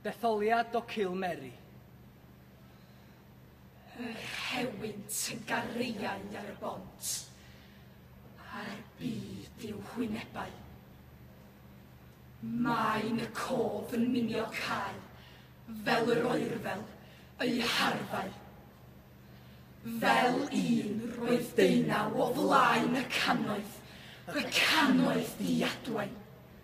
Detholiad o Cill Mary. Yr rhewynt yn gariain ar y bont, a'r byd i'w hwynebau. Mae'n y cof yn minio cael, fel yr oerfel, eu harfau. Fel un roedd deunaw o flaen y cannoedd, y cannoedd di adwain.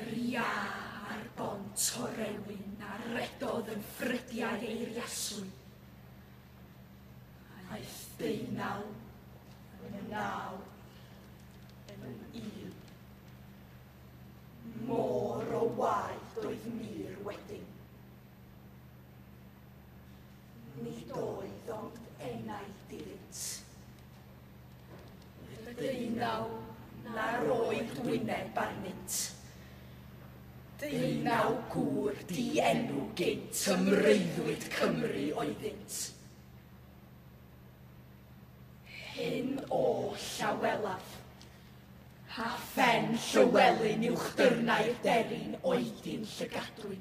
Yr iâ ar bont orewyn a redodd yn ffrydiau eiriaswy. Aeth deunaw, yn naw, yn un. Môr o waed oedd mir wedyn. Nid oedd ond enaid iddynt. Deunaw na'r oedd wyneb arnynt. Deunaw gŵr di-enw gynt ym mreuddwyd Cymru oeddynt. Hyn oll a welaf, pa phen Llywelyn uwchdyrnau'r deryn oedi'n llygadwy.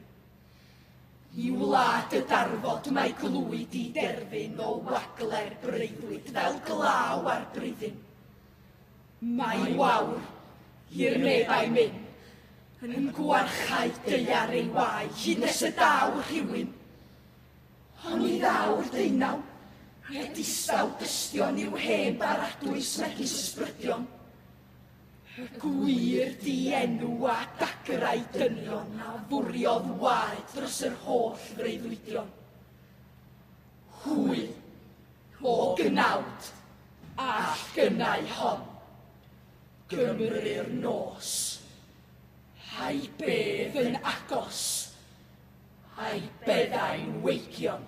I wlad y darfod mae glwyd i derfyn o wagle'r breuddwyd fel glaw ar bryddyn. Mae wawr, i'r meddai myn, yn gwarchau deiar ei wai hyd nes y daw rhywun. Ond i ddaw'r deunaw, e distaw dystion i'w hen baradwys megis ysbrydion. Y gwir dienw a dagrau dynion a fwriodd waed dros yr holl freuddwydion. Hwy, o gnawd, all gynnau hon. Gymru'r nos. Hai bedd yn agos. Hai beddau'n weigion.